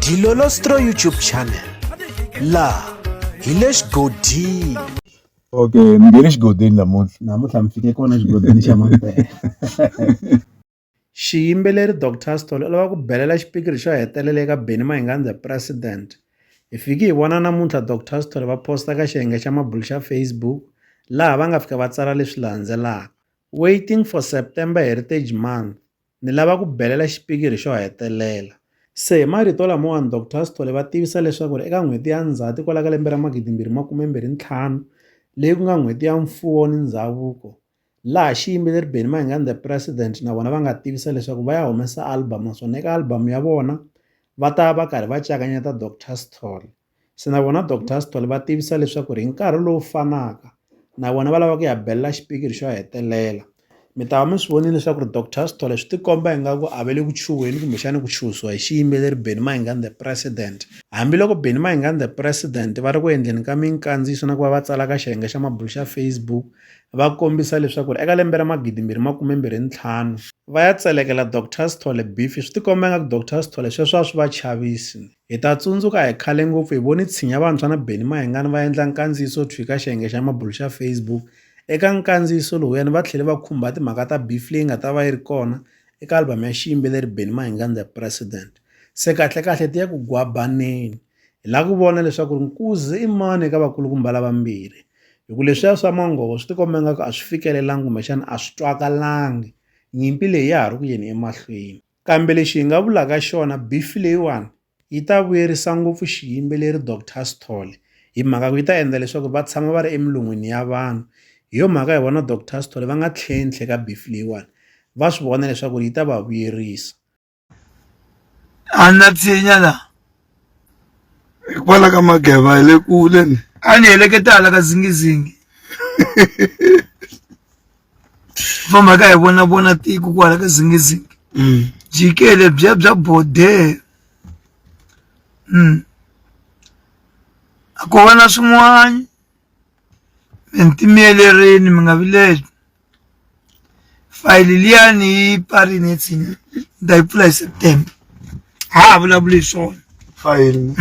Dilolostro YouTube channel laha hi le xigodini okay ni nge le xigodini namuntlha namuntlha mi fike kona xigodini xa mampela xiyimbeleri dr stol u lava ku belela xipikiri xo hetelela eka beni mahingandza president hi fiki hi vona namuntlha dr stol va posta ka xiyenge xa mabulu xa facebook laha va nga fika va tsala leswi landzelaka waiting for september heritage month Ni lava ku belela xipikiri xo hetelela. Se hi marito lamawani Doctor Sithole va tivisa leswaku ri eka n'hweti ya Ndzhati kwala ka lembe ra 2025 leyi ku nga n'hweti ya mfuwo ni ndzhavuko laha xiyimbeleri Benny Mayengani The President na vona va nga tivisa leswaku va ya humesa album naswona eka album ya vona va ta va karhi va cakanyeta Doctor Sithole. Se na vona Doctor Sithole va tivisa leswaku ri hi nkarhi lowu fanaka na vona va lava ku ya belela xipikiri xo hetelela mi ta va mi swi vonile leswaku ri Doctor Sithole swi tikomba ingaku a va le ku chuheni kumbexana ku chuhisiwa hi xiyimbeleri Benny Mayengani the president hambiloko Benny Mayengani the president va ri ku endleni ka minkandziyiso na ku va va tsala ka xiyenge xa mabulo xa Facebook va kombisa leswaku ri eka lembe ra magidimbirhi makumembirhi ntlhanu va ya tselekela Doctor Sithole beef swi tikomba ingaku Doctor Sithole sweswo a swi va chavisi Hi ta tsundzuka hi khale ngopfu hi voni Tshinya Vantshwa na Benny Mahingani va endla nkandziyiso thwi ka xiyenge xa mabulo xa Facebook. Eka nkandziyiso lowuyani va tlhele va khumba timhaka ta beef leyi nga ta va yi ri kona eka album ya xiyimbeleri Benny Mahingani The President. Se kahle-kahle tiya ku gwabaneni. Hi lava ku vona leswaku ri nkuzi i mani eka vakulukumba lavambirhi. Hi ku leswiya swa manghovo swi tikomba ingaku a swi fikelelangi kumbexana a swi twakalangi. Nyimpi leyi ya ha ri ku yeni emahlweni. Kambe lexi hi nga vulaka xona, bifi leyiwani yi ta vuyerisa ngopfu xiyimbeleri Doctor Sithole hi mhaka ku yi ta endla leswaku va tshama va ri emilon'wini ya vanhu hi yo mhaka hi vona Doctor Sithole va nga tlhentlhe ka bifi leyiwani va swi vona leswaku yi ta va vuyerisa a na tshinya la hikwalaho ka mageva hi le kule ni a ni heleketala ka zingizingi famba ka hi vona vona tiko kwala ka zingizingi mm. jikele bya bya bodee mm. a ko va na swin'wana mi ntimiyelerini mi nga vileli fayili liya ni yi pfari ni tsini ni ta yi pfula hi september ha ha vulavuli hi swona fayili um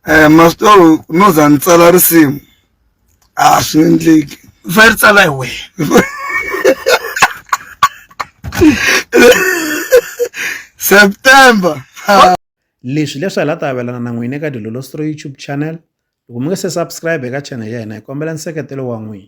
eh, masitoro no za ni tsala risimu a ah, swi endleki u fanele ri tsala hi wena september leswi leswi hi la ta avelana na n'wina eka dilolostro youtube channel loko mi nga se subscribe eka channel ya hina hi kombela nseketelo wa n'wina